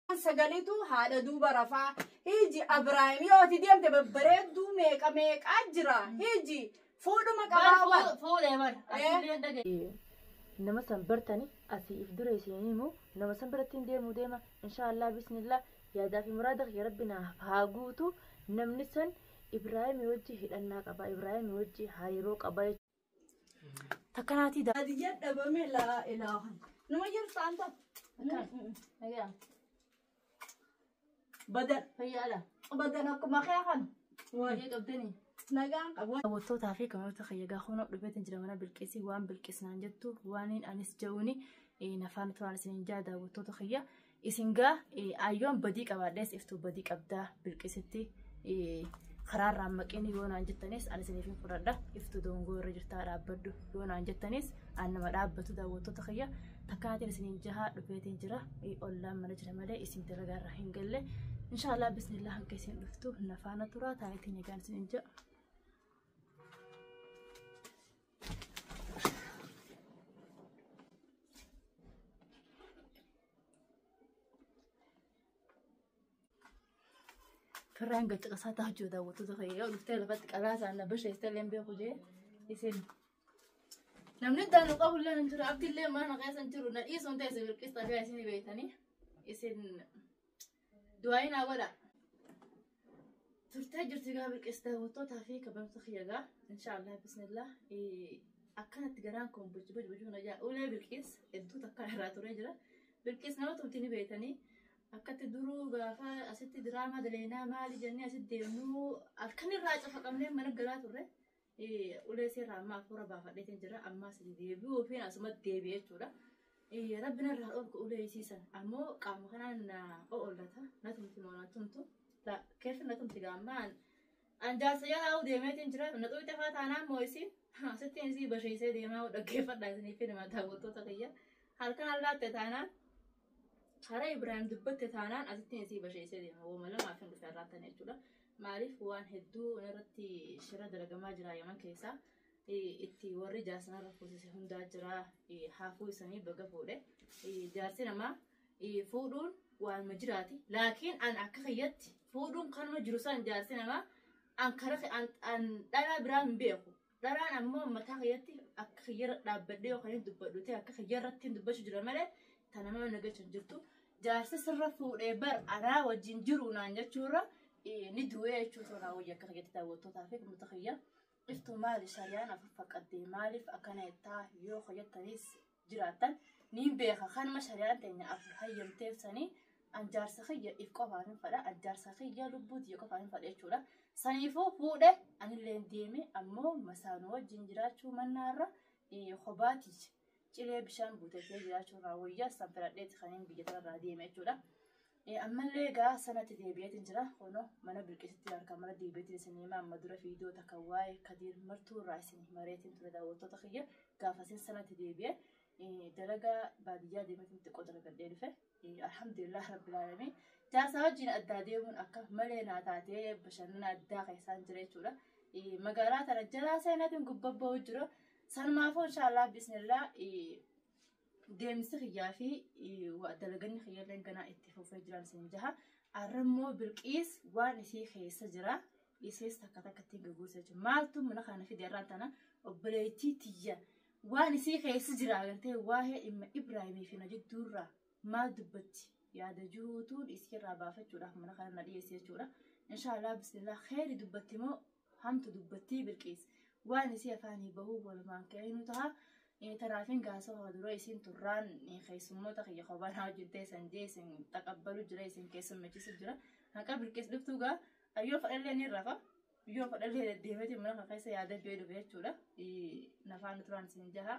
sagalitu haadha duuba rafaa hiji abraahim yoo ati deemte babbareedduu meeqa meeqaa jira hiji fuudhuma qabaa bar fuudhee bar asillee hin dhageenye. nama san bartani asii if dura isiin himu nama san birattiin deemuu deema inshaallah bismillah yaadaa fi muraada kiyya rabbi naaf haa guutu namni san ibraahimi wajji hidhannaa qaba ibraahimi wajji hariiroo qaba Takka naatii daa. Adi jedha bame laa ilaaha. Nama jiru saanta. Fayyaa. Badan. Fayyaadha. Badan akkuma kee kan. Waa'ee qabdanii. Nagaan qabu. Daawwattootaa fi kabajamoota kiyya egaa kunoo dhufeetiin jira mana bilqisii waan bilqisnaan jettu waaniin anis ja'uuni nafaan turaan isiniin jaa daawwattoota kiyya Isin gaa ayyoon badii qabaadhees iftuu badii qabdaa bilqisitti karaarraa maqeen yoo naan jettanis ani isiniif hin fudhadha iftuu dongoo irra jirtaa dhaabbadhu yoo naan jettanis ani nama dhaabbatu daawwattoota kiyya takkaatiin isiniin jahaa dhufeetiin jira ollaan mana jira malee isin dalagaa irraa hin galle inshaallah bismillah hanqa isin dhuftu nafaana turaa taayitiin egaan isiniin jaha. Firraan gad caqasaa ta'a jiru daawwattoota kee yoo dhuftee lafatti qaraa isaan na basheessee illee hin beeku jee isin. Namni iddaan nu qabu illee hin jiru abdi illee mana keessa hin jiru na dhiisuun ta'e isin birqista biyya isin beektanii isin du'aayi naa godha. Turtee jirti gaa bilqis daawwattootaa fi kabajamtoota kiyya gaa inshaallah bismillah akkanatti garaan kun bochi bochi bochi hunajaa ulee bilqis hedduu takkaa irraa turee jira. Bilqis nama tumti ni beektanii akkatti duruu gaafa asitti diraamaa daleynaa maali jennee asitti deemnuu halkan irraa cafaqamnee mana galaa turre. ulee seerraa amma afuura baafadheetiin jira ammaa sadi deebi'uu fi asumatti deebi'e jechuudha. Rabbi narraa dhorku ulee isii san ammoo qaama kanaan na o'ollata na tumti moo na tumtu keessa na tumti gaammaan an jaarsa jalaa deemeetiin jira na xuqxe faa taanaan moo isiin asittiin isii basheessee deemaa dhaggeeffadhaa isinii fi nama daawwattoota kiyya halkan allaatte taanaan karaa Ibrahim dubbatte taanaan asittiin isii basheessee deema wooma lamaa fi hin dhufe irraattan jechuudha. Maaliif waan hedduu irratti shira dalagamaa jira Yaman keessa. Itti warri jaarsa narra fuusise hundaa jira. Haafuu isanii baga fuudhe. Jaarsi namaa fuudhuun waanuma jiraati. Laakiin an akka kiyyatti fuudhuun kanuma jiru san jaarsi namaa an kara an dhalaa biraa hin beeku. Dharaan ammoo mataa kiyyatti akka kiyyarra dhaabbadhee yoo kanin dubbadhu ta'e akka kiyyarrattiin dubbachuu jira malee ta namaa na galchu hin jirtu. Jaarsa sirra fuudhee bar anaa wajjin jiru naan jechuurra eh, ni du'ee jechuu ta'u naa wayya akka kiyyatti daawwattootaa fi uummata kiyya. Iftuu maali shariyaan afur faqqaddee maaliif akkana jettaa yoo kiyyattanis jiraattan niin beeka kanuma shari'aan teenya af hayyamteef sanii an jaarsa kiyya if qofaan hin fadha an jaarsa kiyya lubbuu tiyya qofaan hin fadha jechuudha saniifuu fuudhe anillee deeme ammoo masaanuu wajjin jiraachuu mannaarra kophaa tiyya cilee bishaan buutatee jiraachuu irraa wayyaa san filadheeti kan hin biyya tanarraa deeme jechuudha. Ee ammallee gaa sanatti deebi'eetiin jira kunoo mana bilqisitti harka mara deebi'eetiin isin hima amma dura viidiyoo takka waa'ee kadiir martuu irraa isin himareetiin ture daawwattoota kiyya gaafasin sanatti deebi'e ee, dalagaa baadiyyaa deemeetiin xiqqoo dalagadhee dhufe Ee, alhamdulillah rabbil aalamiin jaarsaa wajjin addaa deemuun akka malee naa taatee bashannana addaa keessaan jira jechuudha Ee, magaalaa tana jalaa seenaatiin gubbabba'uu jira sanumaafuu inshaallah bismillah Ee, Deemsi kiyyaa fi dalaganni kiyya illee ganaa itti fufee jiraan isin jaha. Arra immoo bilqiis waan isii keessa jira. Isiis takka takka ittiin gaggeessa jechuudha. Maaltu mana kana fide irraan tana obboleettii tiyya waan isii keessa jira agartee waa'ee dhimma Ibraahimii fi na jidduurraa maal dubbatti yaada jiruutuun isii irraa baafachuudhaaf mana kana na dhiyeesse jechuudha. Inshaallah bismillah kheyri dubbatti moo hamtu dubbattii bilqiis waan isii afaanii bahuu walumaan ka'inuu taha tanaafin gaasawa dura isiin turraan keessummoota kiyya kobaanaa wajjin teessan jee isin taqabbalu jira isin keessummechisu jira haqa bilqiis dhuftuu gaa ayyoo fadhallee ni rafa yoo fadhallee deddeemeti mana keessa yaada jee dhufe jechuudha nafaana turaan isin jaha.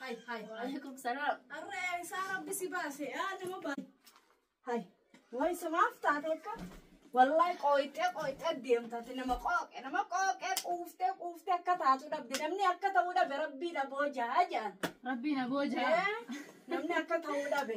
Hai, hai. Waalaikum salaam. Arre, isaa rabbi si baase. Yaa nama baase. Hai. Wai sumaaf taate akka. Wallahi qooyxee qooyxee deemtaati nama qooqe nama qooqee quuftee quuftee akka taatu dhabde namni akka ta'uu dhabe rabbii dhaboo jaa jaan. Rabbiin aboo jaa. Eh, Namni akka ta'uu dhabe.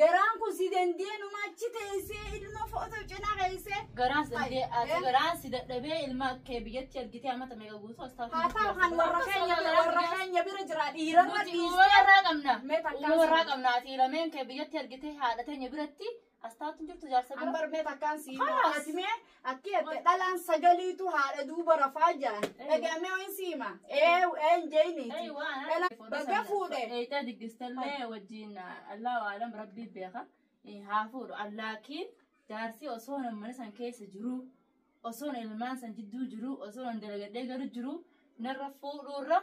Garaan kun si dandee numa achi teessee ilma footoo cinaa keessee. Garaan si dandee ati garaan si dadhabee ilma kee biyyatti ergitee amata meeqa guutuu as taatu. Haa ta'u kan warra keenya bira warra keenya bira jira dhiirarra Nuti dhiistee. uumama irraa qabna. Mee takkaa Uumama irraa sirrii. qabna ati lameen kee biyyatti ergitee haadha teenya biratti as taatu hin jirtu jaarsa bira. Ambar mee takkaan sii Haas. ati mee Akki jette dhalaan sagaliitu haadha duuba rafaa jedhan. Dhagaamee wayin siima. Ee een jeeyniiti. Dhalaan baga fuudhe. Eeyxee diggistallee wajjin allaa waalam rabbii beeka haa fuudhu allaakiin jaarsi osoo mana san keessa jiru osoo ilmaan san jidduu jiru osoo dalagadhee galu jiru narra fuudhuurra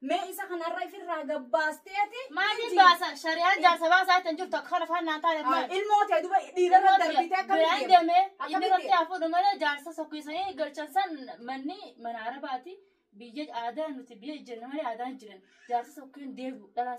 Mee isa kanarra ifirraa gabbaasteeti. Maatiin baasa shari'aan jaarsa baasaa ittiin jirtu akka kana faannaan taaneef maal? Ilmoo ta'e duba dhiirarra darbitee akka Biraan deeme inni irratti haa fuudhu malee jaarsa sokkiisanii galchan san manni mana arabaati biyya aadaa nuti biyya jijjiirna malee aadaa hin jiran jaarsa sokkeen deebi'u dhalaa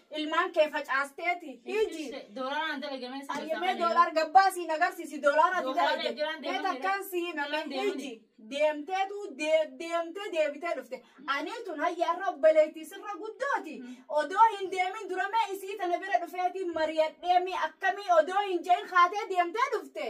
ilmaan kee facaasteeti hiji Doolaaraan dalagamee si ayyamee doolaar gabbaa siin agarsiisi doolaara ati Doolaara dalagde jiraan mee deemamee takkaan si himame Doolaara deemamee. hiji deemteetu dee- deemtee deebitee dhufte anii tun hayyaarra obboleettii sirra guddooti odoo hin deemin dura mee isii tana bira dhufeetiin mariyadhee mee akkamii odoo hin jein kaatee deemtee dhufte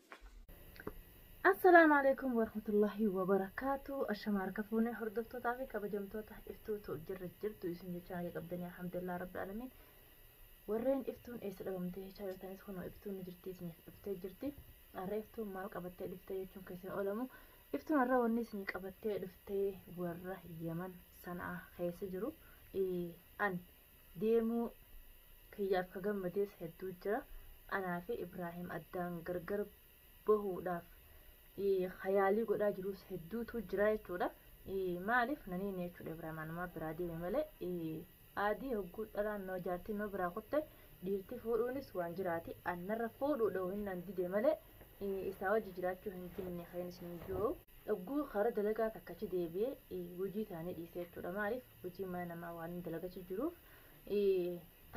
Assalaamu alaikum warahmatullahi wabarakaatu ashama harka fuunee hordoftootaa fi kabajamtoota iftuutu jirra jirtu isin jecha naga qabdanii alhamdulillah rabbi alamiin warreen iftuun eessa dhabamtee jechaa jirtanis kunoo iftuun ni jirti isiniif dhuftee jirti har'a iftuun maal qabattee dhuftee jechuun kan isin oolamu iftuun har'a wanni isinii qabattee dhuftee warra yaman sanaa keessa jiru an deemuu kiyyaaf ka gammadees hedduu jira. Anaa fi Ibraahim addaan gargar bahuudhaaf ka yaalii godhaa jiruus hedduutu jira jechuudha. Maaliif na niine jechuudha Ibraahim anumaa biraa deeme malee aadii hogguu dhalaan nama jaartiin nama biraa kutte dhiirti fuudhuunis waan jiraati. Annarra fuudhuu dha'u hinnaan dide malee isaa wajji jiraachuu hin dinne kan isin jiru. Hogguu karaa dalagaa takkachi deebi'ee hojii taanii dhiise jechuudha. Maaliif hojii mana namaa waan hin dalagachu jiruuf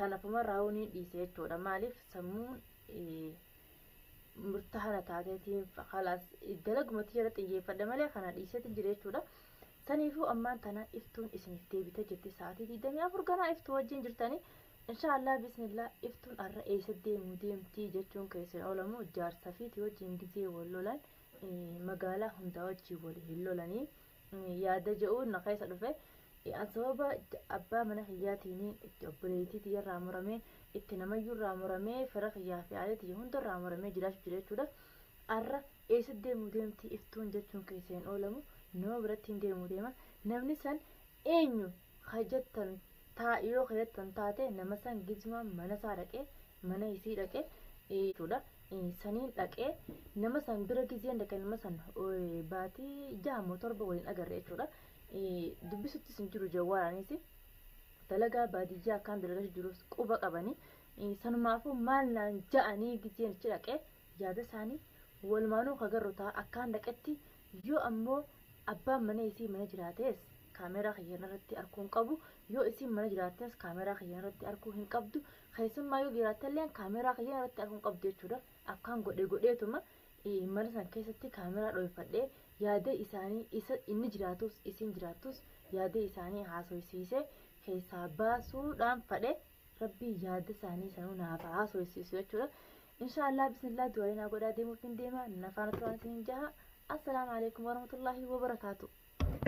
tanafuma raawuu ni dhiise jechuudha maaliif sammuun murtaa kana taateetiin kalaas dalagumatti jala xiyyeeffadha malee kana dhiiseetiin jira jechuudha saniifuu ammaan tana iftuun isiniif deebite jirti sa'aatii digdamii afur ganaa iftuu wajjin jirtanii inshaallah bismillah iftuun arra eessa deemuu deemtii jechuun keessan oolamu jaarsa fiitii wajjin gizee wal lolan magaalaa hundaa wajjin wal hin lolanii yaada je'u na keessa dhufe an sababa abbaa mana kiyyaatiin itti obboleettii tiyyarraa muramee itti namayyuurraa muramee fira kiyyaa fi aalee tiyya hundarraa muramee jiraachuu jira jechuudha arra eessa deemuu deemti iftuun jechuun keessa hin oolamu nama biratti hin deemuu deema namni san eenyu Ka jettan taa yoo ka jettan taate nama san gizmaan mana isaa dhaqee mana isii dhaqee jechuudha saniin dhaqee nama san bira gizeen dhaqee nama san baatii jaha moo torba waliin agarre jechuudha dubbisuttis hin jiru jawwaaraanis dalagaa baadiyyaa akkaan dalagaa jirus quba qabanii sanumaafuu maal naan ja'anii gizeen ichi dhaqee yaada isaanii walumaanuu ka garru taa akkaan dhaqetti Yoo ammoo abbaan manaa isii mana jiraates kaameeraa kiyyan irratti arkuu hin qabu. Yoo isiin mana jiraattes kaameeraa kiyyan irratti arkuu hin qabdu. Keessummaa yoo jiraattelleen kaameeraa kiyyan irratti arkuu hin qabdu jechuudha. Akkaan godhe godheetuma mana san keessatti kaameeraa dhooyfadhee yaada isaanii isa inni jiraatus isiin jiraattus yaada isaanii haasoysiisee keessaa baasuudhaan fadhe rabbii yaada isaanii sanuu naaf haasoysiisu jechuudha. Inshaa Allah bismillah du'aa'ii naa godhaa deemuufin deema na faana turaan isinin jaha. Assalaamu alaikum warahmatullahi wabarakaatu.